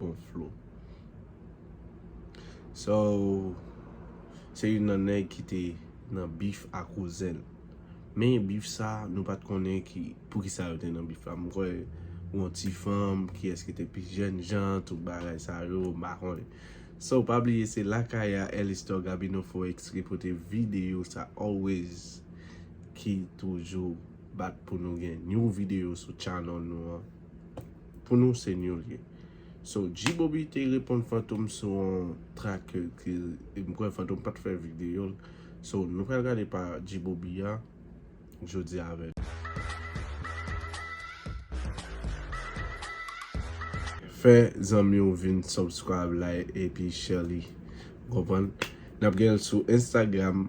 Bon flow. So, se youn nan nèg ki te nan bif ak Rosel. Men bif sa, nou pat konnen ki, pou ki sa yo te nan bif la. M kwè, pou yon ti fanm, ki eske ki te pi jèn jan, tout bagay sa yo, m pa konnen. So, pa bliye se Lakaya Elystor Gabino Fo X ki pote videyo sa always, ki toujou bat pou nou gen new videyo sou channel nou an. Pou nou se new liye. So G-bobby te reponn fantom sou on track ke m kwè fantom pat fè video l so nou pral gade pa G-bobby a jodi a avè nou. Fè zanmi w vin subscribe la epi share li ou konprann. Nap gen l sou Instagram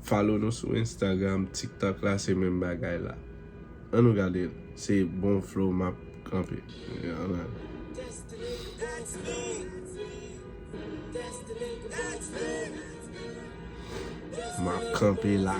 follow nou sou Instagram, tiktok la se menm bagay la. An nou gade se bon flow map kanpe Map kanpe la.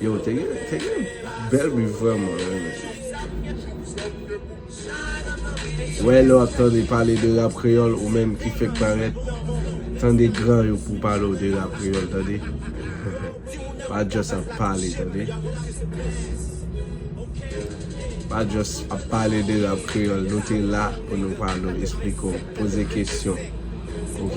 Yow te gen te gen bèl beef vrèman wi mesye. Wè lè wap tande pale de rap kreyòl ou menm ki fèk parèt tande gran yo pou pale w de rap kreyòl tande pa just ap pale tande pa just ap pale de rap kreyòl nou te la pou nou pale w esplike w poze kesyon ok.